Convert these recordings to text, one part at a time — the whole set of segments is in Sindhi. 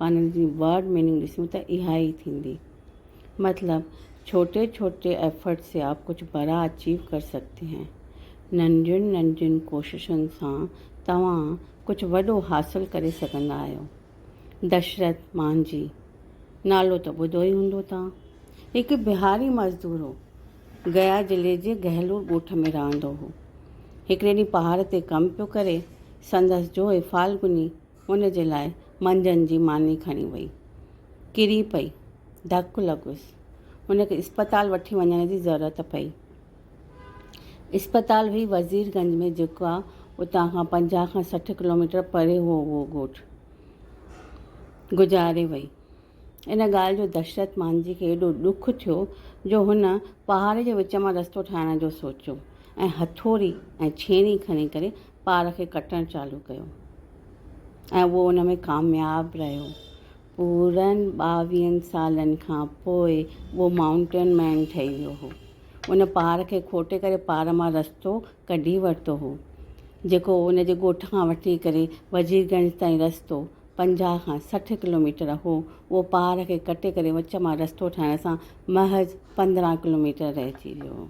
معنيٰ جي Word Meaning ڏسون ته اها ئي ٿيندي. مطلب، ڇوٽي ڇوٽي ايفرٽ سي آپ ڪجهه بڙا اچيو ڪر سگهتي هين. ننڍين ننڍين ڪوششن سان توهان ڪجهه وڏو حاصل ڪري سگهندا آهيو. دشرٿ مانجهي نالو ته ٻڌو ئي هوندو توهان. هڪ بهاري مزدور هو. گيا ضلعي جي گهلور ڳوٺ ۾ رهندو هو. هڪڙي ڏينهن پهاڙ تي ڪم پيو ڪري. سندس جوء فالگني ان جي لاء منجهند جي ماني کڻي وئي. ڪري پئي. ڌڪ لڳس. ان کي اسپتال وٺي وڃڻ جي ضرورت پئي. اسپتال هئي وزير گنج ۾ جيڪو اتان کان پنجاهه کان سٺ ڪلوميٽر پري هو اهو ڳوٺ. گذاري وئي. ان ڳالهه جو دشرت مانجهي کي ايڏو ڏک ٿيو جو هن پهاڙ جي وچ مان رستو ٺاهڻ جو سوچيو ۽ هٿوڙي ۽ ڇيڻي کڻي ڪري پار کي ڪٽڻ چالو ڪيو ۽ اهو ان ۾ ڪامياب رهيو. پورن ٻاويهن سالن کان پوء اهو مائونٽن مين ٺهي ويو هو. ان پار کي کوٽي ڪري پار مان رستو ڪڍي ورتو هو، جيڪو ان جي ڳوٺ کان وٺي ڪري وزير گنج تائين رستو پنجاهه کان سٺ ڪلوميٽر هو، اهو پار کي ڪٽي ڪري وچ مان رستو ٺهڻ سان محض پندرهن ڪلوميٽر رهجي ويو.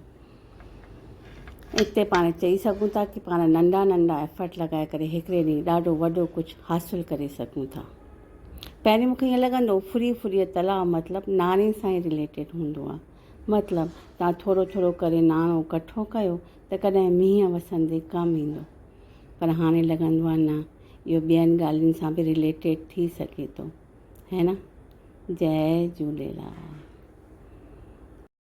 اتي پاڻ چئي سگهون ٿا ته پاڻ ننڍا ننڍا ايفرٽ لڳائي ڪري هڪڙي ڏينهن ڏاڍو وڏو ڪجهه حاصل ڪري سگهون ٿا. پهرين مون کي ائين لڳندو هو ڦري ڦري تلاء مطلب ناڻي سان ئي رليٽيڊ هوندو آهي. مطلب توهان ٿورو ٿورو ڪري ناڻو ڪٺو ڪيو ته ڪڏهن مينهن وسندي ڪم ايندو. پر هاڻي لڳندو آهي نه اهو ٻين ڳالهين سان به رليٽيڊ ٿي سگهي ٿو. هي نه؟ جئي جهوليلال.